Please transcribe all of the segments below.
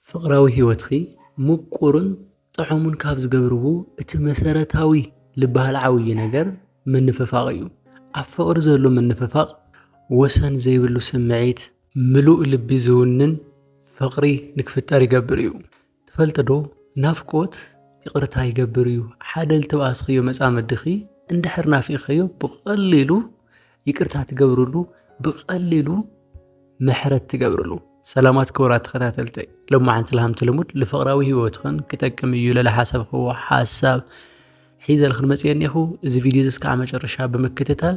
ፍቕራዊ ህይወትኪ ምቁርን ጥዑምን ካብ ዝገብርቡ እቲ መሰረታዊ ልበሃል ዓብዪ ነገር ምንፍፋቕ እዩ። ኣብ ፍቕሪ ዘሎ ምንፍፋቕ ወሰን ዘይብሉ ስምዒት፣ ምሉእ ልቢ ዝውንን ፍቕሪ ንክፍጠር ይገብር እዩ። ትፈልጥዶ ናፍቆት ይቕርታ ይገብር እዩ። ሓደ ልተበኣስክዮ መጻምድኺ እንድሕር ናፊቕክዮ ብቐሊሉ ይቅርታ ትገብርሉ ብቀሊሉ ምሕረት ትገብርሉ ሰላማት ክቡራት ተኸታተልተይ ሎማዓንቲ ልሃምቲ ልሙድ ንፍቕራዊ ህይወትኽን ክጠቅም እዩ ለለ ሓሰብክዎ ሓሳብ ሒዘልኽን መፅየ እኔኹ እዚ ቪድዮ እዚ እስካዕ መጨረሻ ብምክትታል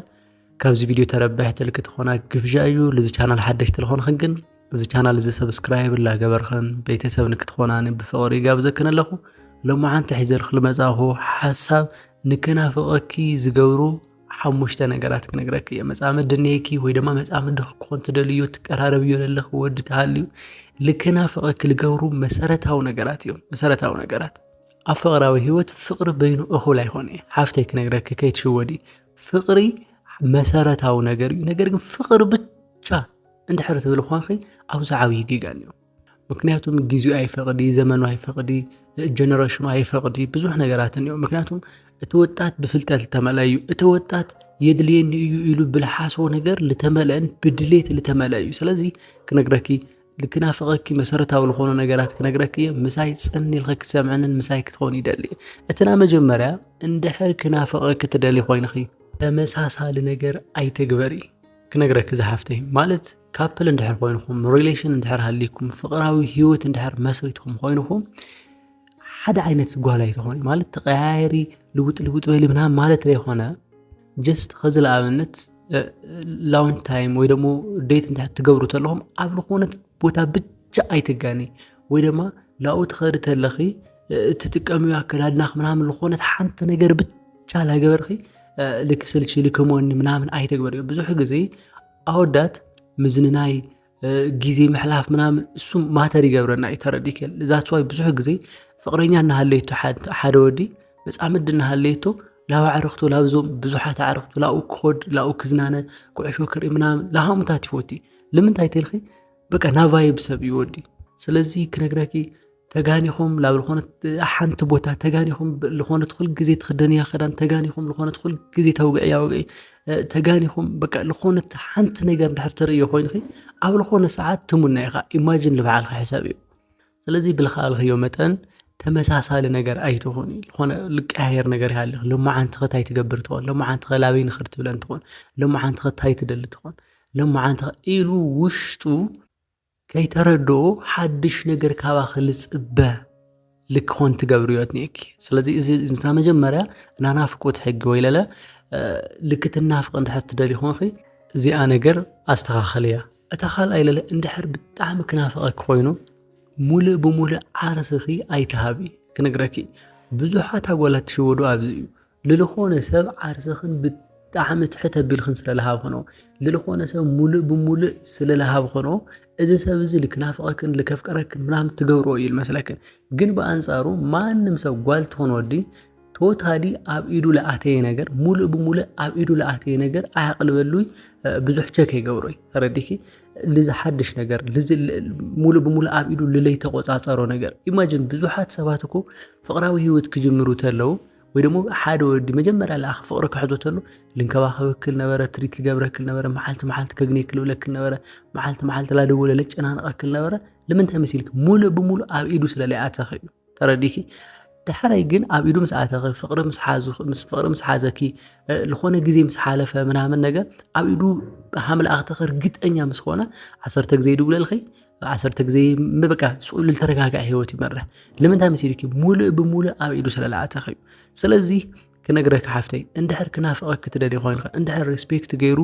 ካብዚ ቪድዮ ተረብሕ ትልክ ትኾና ግብዣ እዩ ልዚ ቻናል ሓደሽ ትልኾንኽን ግን እዚ ቻናል እዚ ሰብስክራይብ ላገበርኽን ቤተሰብ ንክትኾናኒ ብፍቕሪ ይጋብዘክን ኣለኹ ሎማዓንቲ ሒዘልክ ልመፃኹ ሓሳብ ንክናፍቐኪ ዝገብሩ ሓሙሽተ ነገራት ክነግረኪ እየ መፃምዲ እኒሄኪ ወይ ድማ መፃምዲ ክኾን ትደልዮ ትቀራረብዮ ዘለኺ ወዲ ተሃልዩ ልከናፍቐኪ ልገብሩ መሰረታዊ ነገራት እዮም መሰረታዊ ነገራት ኣብ ፍቕራዊ ህይወት ፍቕሪ በይኑ እኹል ኣይኮነ እዩ ሓፍተይ ክነግረኪ ከይትሽወዲ ፍቕሪ መሰረታዊ ነገር እዩ ነገር ግን ፍቕሪ ብቻ እንድሕር ትብል ኳንኺ ኣብዚ ዓብዪ ጌጋን እዩ ምክንያቱም ጊዜኡ ኣይፈቅዲ ዘመኑ ኣይፈቅዲ ጀነረሽኑ ኣይፈቅዲ ብዙሕ ነገራት እኒኦ ምክንያቱም እቲ ወጣት ብፍልጠት ዝተመልአ እዩ እቲ ወጣት የድልየኒ እዩ ኢሉ ብልሓስቦ ነገር ዝተመልአን ብድሌት ዝተመልአ እዩ ስለዚ ክነግረኪ ክናፍቀኪ መሰረታዊ ዝኮኑ ነገራት ክነግረኪ እየ ምሳይ ፅን ኢልኪ ክትሰምዕንን ምሳይ ክትኮኒ ይደሊ እየ እቲ ናይ መጀመርያ እንድሕር ክናፍቀኪ ትደሊ ኮይንኪ ተመሳሳሊ ነገር ኣይትግበሪ ክነግረኪ ዝሓፍተይ ማለት ካፕል እንድሕር ኮይንኹም ሪሌሽን እንድሕር ሃሊኩም ፍቅራዊ ሂወት እንድሕር መስሪትኩም ኮይንኹም ሓደ ዓይነት ጓል ኣይትኾኑ ማለት ተቀያየሪ ልውጥ ልውጥ በሊ ምናምን ማለት ዘይኮነ ጀስት ከዚ ለኣብነት ላውን ታይም ወይ ደግሞ ዴት እንድሕር ትገብሩ ተለኹም ኣብ ዝኾነት ቦታ ብቻ ኣይትጋኒ ወይ ድማ ላኡ ትኸዲ ተለኺ እትጥቀሚ ኣከዳድናኽ ምናምን ዝኾነት ሓንቲ ነገር ብቻ ላገበርኺ ልክስልቺ ልክመኒ ምናምን ኣይተግበርዮ ብዙሕ ግዜ ኣወዳት ምዝንናይ ግዜ ምሕላፍ ምናምን እሱ ማተር ይገብረና እዩ ተረዲክ ዛት ዋይ ብዙሕ ግዜ ፍቅረኛ እናሃለየቶ ሓደ ወዲ መፃምድ እናሃለየቶ ላብ ኣዕርክቱ ላብዞም ብዙሓት ኣዕርክቱ ላብኡ ክኸድ ላብኡ ክዝናነ ኩዕሾ ክርኢ ምናምን ላሃምታት ይፈቱ እዩ ልምንታይ ተልኺ በቃ ናቫይብ ሰብ እዩ ወዲ ስለዚ ክነግረኪ ተጋኒኹም ላብ ዝኾነት ሓንቲ ቦታ ተጋኒኹም ዝኾነት ኩል ግዜ ትኽደንያ ክዳን ተጋኒኹም ዝኾነት ኩል ግዜ ተውግዕያ ወግዒ ተጋኒኹም በቃ ዝኾነት ሓንቲ ነገር ድሕር ትርኢ ኮይንኺ ኣብ ዝኾነ ሰዓት ትሙና ኢኻ ኢማጂን ልበዓልካ ሕሳብ እዩ ስለዚ ብልኸኣልኸዮ መጠን ተመሳሳሊ ነገር ኣይትኾን ዝኾነ ልቀያየር ነገር ይሃልኽ ሎማ ዓንቲ ኸታይ ትገብር ትኾን ሎማ ዓንቲ ኸላበይ ንኽድ ትብለን ትኾን ሎማ ዓንቲ ኸታይ ትደሊ ትኾን ሎማ ዓንቲ ኢሉ ውሽጡ ከይተረድኡ ሓድሽ ነገር ካባኺ ልጽበ ልክኾን ትገብርዮ እኒኤኪ ስለዚ እዚ እንትና መጀመርያ ናናፍቁት ሕጊ ወይለለ ልክትናፍቅ እንድሕር ትደሊ ኾንኺ እዚኣ ነገር ኣስተኻኸልያ እታ ካልኣይ ለለ እንድሕር ብጣዕሚ ክናፍቐኪ ኮይኑ ሙሉእ ብሙሉእ ዓርስኺ ኣይትሃቢ ክነግረኪ ብዙሓት ኣጓላት ትሽወዱ ኣብዚ እዩ ልልኾነ ሰብ ዓርስኽን ብጣዕሚ ትሕት ኣቢልክን ስለ ልሃብክኖ ልልኾነ ሰብ ሙሉእ ብሙሉእ ስለ ልሃብክኖ እዚ ሰብ እዚ ልክናፍቐክን ልከፍቀረክን ምናምን ትገብሮ እዩ ልመስለክን ግን ብኣንጻሩ ማንም ሰብ ጓል ትኾን ወዲ ቶታሊ ኣብ ኢዱ ልኣተየ ነገር ሙሉእ ብሙሉእ ኣብ ኢዱ ልኣተየ ነገር ኣያቕልበሉይ ብዙሕ ቸክ ይገብሮይ ተረዲኪ ልዚ ሓድሽ ነገር ሙሉእ ብሙሉእ ኣብ ኢዱ ልለይተቆፃፀሮ ነገር ኢማጅን ብዙሓት ሰባት እኮ ፍቕራዊ ሂወት ክጅምሩ ተለው ወይ ደሞ ሓደ ወዲ መጀመርያ ለኣኸ ፍቕሪ ክሕዞ ተሎ ልንከባኸበክል ነበረ ትሪት ልገብረክል ነበረ መዓልቲ መዓልቲ ከግኔክል ብለክል ነበረ መዓልቲ መዓልቲ ላደወለ ለጨናንቐክል ነበረ ልምንታይ መሲልክ ሙሉእ ብሙሉእ ኣብ ኢዱ ስለ ለይኣተኺ እዩ ተረዲኪ ድሕረይ ግን ኣብ ኢዱ ምስ ኣተኺ ፍቕሪ ምስ ሓዙ ምስ ፍቕሪ ምስ ሓዘኪ ዝኾነ ግዜ ምስ ሓለፈ ምናምን ነገር ኣብ ኢዱ ሃምልኣኽተኺ እርግጠኛ ምስ ኾነ ዓሰርተ ግዜ ይድውለልኺ ዓሰርተ ግዜ በቃ ስኡል ዝተረጋግዐ ሂወት ይመርሕ ንምንታይ መሲልኪ ሙሉእ ብሙሉእ ኣብ ኢዱ ስለ ዝኣተኺ እዩ ስለዚ ክነግረኪ ሓፍተይ እንድሕር ክናፍቐኪ ትደልይ ኮይንኺ እንድሕር ሪስፔክት ገይሩ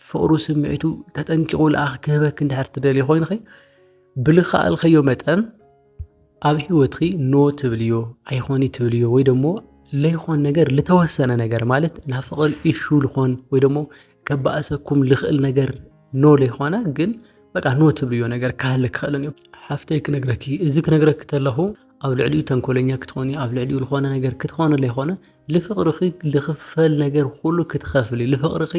ፍቕሩ ስምዒቱ ተጠንቂቑ ልኣኽ ክህበኪ እንድሕር ትደልይ ኮይንኺ ብልኸኣልኸዮ መጠን ኣብ ሂወትኺ ኖ ትብልዮ ኣይኾኒ ትብልዮ ወይ ደሞ ለይኾን ነገር ልተወሰነ ነገር ማለት ናብ ፍቕሪ ኢሹ ልኾን ወይ ደሞ ከባእሰኩም ልኽእል ነገር ኖ ዘይኾነ ግን በቃ ኖ ትብልዮ ነገር ካህለ ክኽእልን እዩ ሓፍተይ ክነግረኪ እዚ ክነግረኪ ተለኹ ኣብ ልዕሊኡ ተንኮለኛ ክትኾኒ ኣብ ልዕሊኡ ዝኾነ ነገር ክትኾነ ዘይኾነ ልፍቕርኺ ልኽፈል ነገር ኩሉ ክትኸፍሊ ልፍቕርኺ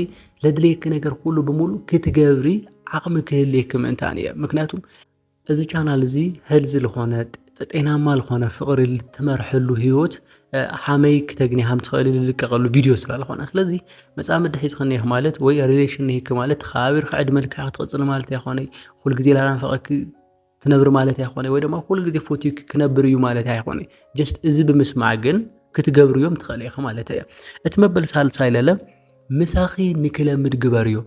ለድልየኪ ነገር ኩሉ ብምሉ ክትገብሪ ዓቕሚ ክህልየኪ ምእንታን እየ ምክንያቱም እዚ ቻናል እዚ ሄልዚ ዝኾነ ጤናማ ዝኾነ ፍቕሪ ልትመርሐሉ ህይወት ሓመይ ክተግኒ ሃም ትኽእል ልልቀቐሉ ቪድዮ ስላልኾነ ስለዚ መጻምድ ሒዝ ክነይክ ማለት ወይ ሪሌሽን ነይክ ማለት ተኸባቢር ክዕድመ ልክዕ ክትቕጽል ማለት ኣይኮነ ኩል ግዜ ላናፈቐኪ ትነብሪ ማለት ኣይኮነ ወይ ድማ ኩል ግዜ ፎቲክ ክነብር እዩ ማለት ኣይኮነ ጀስት እዚ ብምስማዕ ግን ክትገብር እዮም ትኽእል ኢኺ ማለት እየ እቲ መበል ሳልሳይ ለለ ምሳኺ ንክለምድ ግበር እዮም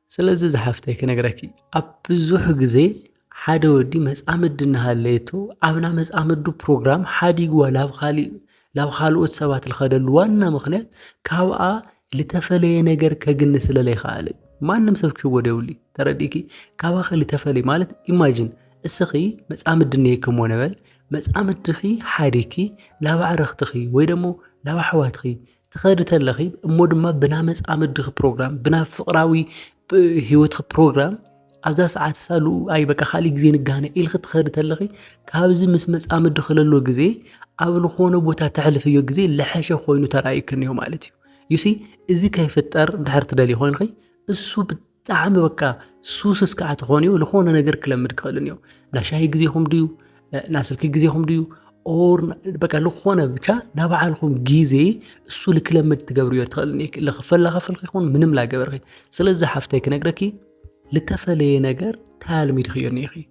ስለዚ ዝሓፍተይ ክነግረኪ ኣብ ብዙሕ ግዜ ሓደ ወዲ መጻምዲ እናሃለየቶ ኣብና መጻምዱ ፕሮግራም ሓዲግዋ ላብ ካሊእ ላብ ካልኦት ሰባት ልኸደሉ ዋና ምክንያት ካብኣ ልተፈለየ ነገር ከግኒ ስለ ለይከኣለ እዩ። ማንም ሰብ ክሽወዶ የብሉ ተረዲእኪ ካባኺ ልተፈለየ ማለት ኢማጂን እስኺ መጻምዲ እኒሄኪ እሞ ንበል መጻምድኺ ሓዲግኪ ላብ ኣዕርኽትኺ ወይ ደሞ ላብ ኣሕዋትኺ ትኸዲ ተለኺ እሞ ድማ ብና መጻምድኺ ፕሮግራም ብና ፍቕራዊ ህይወትኺ ፕሮግራም ኣብዛ ሰዓት ሳሉ ኣይ በቃ ካልእ ግዜ ንጋነ ኢልኺ ትኸዲ ተለኺ ካብዚ ምስ መጻምዲ ክለሎ ግዜ ኣብ ዝኾነ ቦታ ተሕልፍዮ ግዜ ለሐሸ ኮይኑ ተራእዩክን እዩ ማለት እዩ ዩሲ እዚ ከይፍጠር ድሕር ትደልዩ ኮይንኺ እሱ ጣዕሚ በቃ ሱስስ ከዓ ተኾንዮ ዝኾነ ነገር ክለምድ ክኽእልን እዮ ናሻሂ ግዜኹም ድዩ ናስልኪ ግዜኹም ድዩ ኦር በቃ ዝኾነ ብቻ ናብ ባዓልኹም ግዜ እሱ ልክለምድ ትገብርዮ ትኽእልን ልክፈላኸፍልኺ ይኹን ምንም ላገበርኺ ስለዚ ሓፍተይ ክነግረኪ ልተፈለየ ነገር ታልሚድኽዮ ኒኢኺ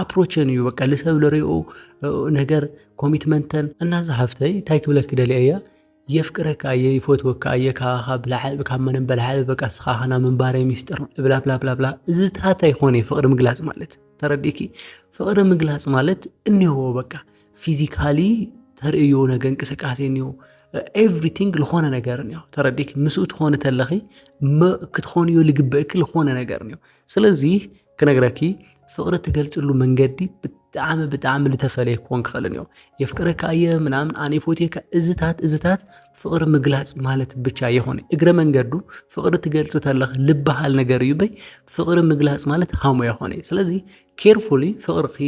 ኣፕሮቸን እዩ በቃ ልሰብ ልሪኦ ነገር ኮሚትመንተን እና እዛ ሃፍተይ እንታይ ክብለኪ ደልየ እየ የፍቅረካ እየ ይፈትወካ እየ ካኻ ብላዕሊ ካብ ምንም በላዕሊ በቃ እስኻ ኸና ምንባረይ ሚስጥር ብላብላብላብላ እዚታት ኣይኮነ ፍቅሪ ምግላፅ ማለት ተረዲእኪ ፍቅሪ ምግላፅ ማለት እኒሆ በቃ ፊዚካሊ ተርእዮ ነገ እንቅስቃሴ እኒሆ ኤቭሪቲንግ ዝኾነ ነገር እኒሆ ተረዲእኪ ምስኡ ትኾኒ ተለኺ ክትኾንዮ ልግበእኪ ዝኾነ ነገር እኒሆ ስለዚ ክነግረኪ ፍቅሪ ትገልፅሉ መንገዲ ብጣዕሚ ብጣዕሚ ልተፈለየ ክኾን ክኽእልን እዮም የፍቅረካ እየ ምናምን ኣነ ፎቴካ እዝታት እዝታት ፍቅሪ ምግላፅ ማለት ብቻ የኾነ እግረ መንገዱ ፍቅሪ ትገልፅ ተለኽ ልበሃል ነገር እዩ በይ ፍቅሪ ምግላፅ ማለት ሃሞ የኾነ ስለዚ ኬርፉሊ ፍቅርኺ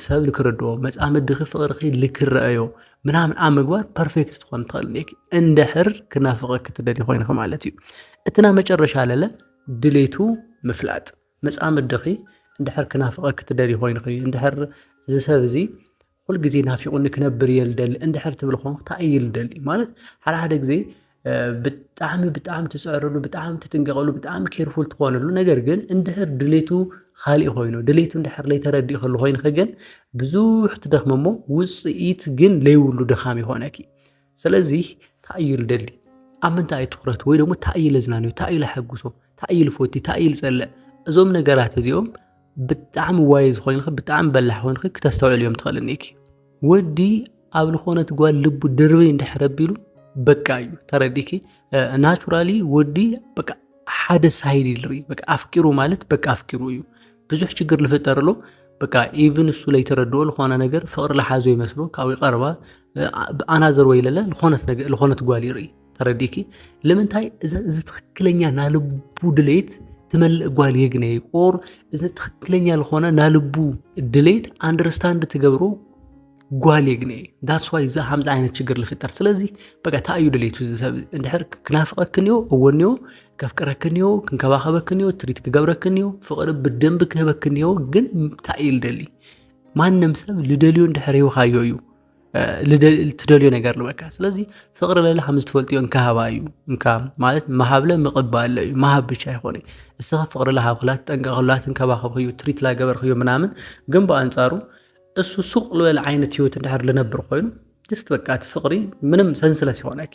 ሰብ ልክርድኦ መፃምድኺ ፍቅርኺ ልክረአዮ ምናምን ኣብ ምግባር ፐርፌክት ትኾን ትኽእል እንድሕር ክናፍቀ ክትደሊ ኮይንኺ ማለት እዩ እትና መጨረሻ ለለ ድሌቱ ምፍላጥ፣ መጻምድኺ እንድሕር ክናፍቐኪ ትደልዪ ኮይንኺ፣ እንድሕር እዚ ሰብ እዚ ኩል ግዜ ናፊቑኒ ክነብር እየ ልደሊ እንድሕር ትብል ኾንክ ታይ እዩ ልደሊ ማለት ሓደ ሓደ ግዜ ብጣዕሚ ብጣዕሚ ትፅዕርሉ ብጣዕሚ ትጥንቀቕሉ ብጣዕሚ ኬርፉል ትኾንሉ ነገር ግን እንድሕር ድሌቱ ኻሊእ ኾይኑ ድሌቱ እንድሕር ለይተረዲእኽሉ ኾይንኺ ግን ብዙሕ ትደኽሚ እሞ ውፅኢት ግን ለይብሉ ድኻም ይኾነኪ። ስለዚ እንታይ እዩ ልደሊ ኣብ ምንታይ እዩ ትኩረት ወይ ደግሞ እንታይ እዩ ለዝናንዮ እንታይ እዩ ለሐጉሶ እንታይ እዩ ልፎቲ እንታይ እዩ ልፀልእ እዞም ነገራት እዚኦም ብጣዕሚ ዋይ ዝኾይንኺ ብጣዕሚ በላሕ ኮይንኺ ክተስተውዕል እዮም ትኽእል እኒኪ ወዲ ኣብ ልኾነት ጓል ልቡ ድርበ እንድሕር ኣቢሉ በቃ እዩ ተረዲኪ ናቹራሊ ወዲ በቃ ሓደ ሳይድ ይልሪ በቃ ኣፍቂሩ ማለት በቃ ኣፍቂሩ እዩ ብዙሕ ችግር ልፍጠርሎ በቃ ኢቭን እሱ ለይተረድኦ ዝኾነ ነገር ፍቅሪ ለሓዞ ይመስሎ ካብኡ ይቀርባ ኣናዘር ወይ ለለ ዝኾነት ጓል ይርኢ ተረዲኪ ልምንታይ እዚ ትክክለኛ ናልቡ ድሌት ትመልእ ጓል የግነ ቆር እዚ ትክክለኛ ዝኾነ ናልቡ ድሌት ኣንደርስታንድ ትገብሮ ጓል የግነ ዳትስ ዋይ እዚ ከምዚ ዓይነት ችግር ልፍጠር ስለዚ በቃ እንታይ እዩ ድሌቱ እዚ ሰብ እንድሕር ክናፍቀክን እዮ እወን እዮ ከፍቅረክን እዮ ክንከባኸበክን እዮ ትሪት ክገብረክን እዮ ፍቅሪ ብደንብ ክህበክን እዮ ግን እንታይ እዩ ልደሊ ማንም ሰብ ልደልዮ እንድሕር ሂብኻዮ እዩ ትደልዮ ነገር ልበካ ስለዚ ፍቕሪ ለለ ከም ዝትፈልጥዮ እንካሃባ እዩ እካ ማለት መሃብለ ምቕባለ እዩ መሃብ ብቻ ኣይኮነ እስኻ ፍቕሪ ለሃብክላት ጠንቀቕላት እንከባኸብክዩ ትሪት ላገበርክዮ ምናምን ግን ብኣንጻሩ እሱ ሱቕ ልበለ ዓይነት ህይወት እንድሕር ልነብር ኮይኑ ጅስት በቃ እቲ ፍቕሪ ምንም ሰንስለስ ይኾነኪ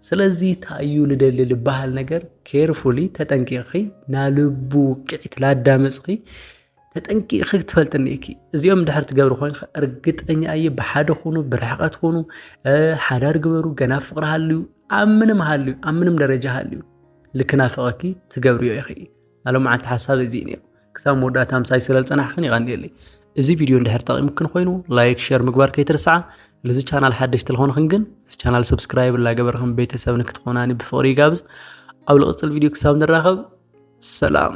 ስለዚ ታዩ ልደሊ ልበሃል ነገር ኬርፉሊ ተጠንቂቕኺ ናልቡ ውቅዒት ላዳመፅኺ ተጠንቂቂ ክትፈልጥኒ እኪ እዚኦም ድሕር ትገብሪ ኮይንካ እርግጠኛ እየ ብሓደ ኹኑ ብርሕቀት ኹኑ ሓዳር ግበሩ ገና ፍቅሪ ሃልዩ ኣብ ምንም ሃልዩ ኣብ ምንም ደረጃ ሃልዩ ልክናፈቀኪ ትገብርዮ ኢኺ ናይ ሎምዓንቲ ሓሳብ እዚ እዩ ነይሩ ክሳብ መወዳእታ ምሳይ ስለ ዝፀናሕክን ይቀኒየለይ እዚ ቪድዮ እንድሕር ጠቂሙክን ኮይኑ ላይክ ሸር ምግባር ከይትርስዓ ልዚ ቻናል ሓደሽቲ ልኾንኽን ግን እዚ ቻናል ሰብስክራይብ ላገበርክን ቤተሰብ ንክትኾናኒ ብፍቅሪ ይጋብዝ ኣብ ልቅፅል ቪድዮ ክሳብ ንራኸብ ሰላም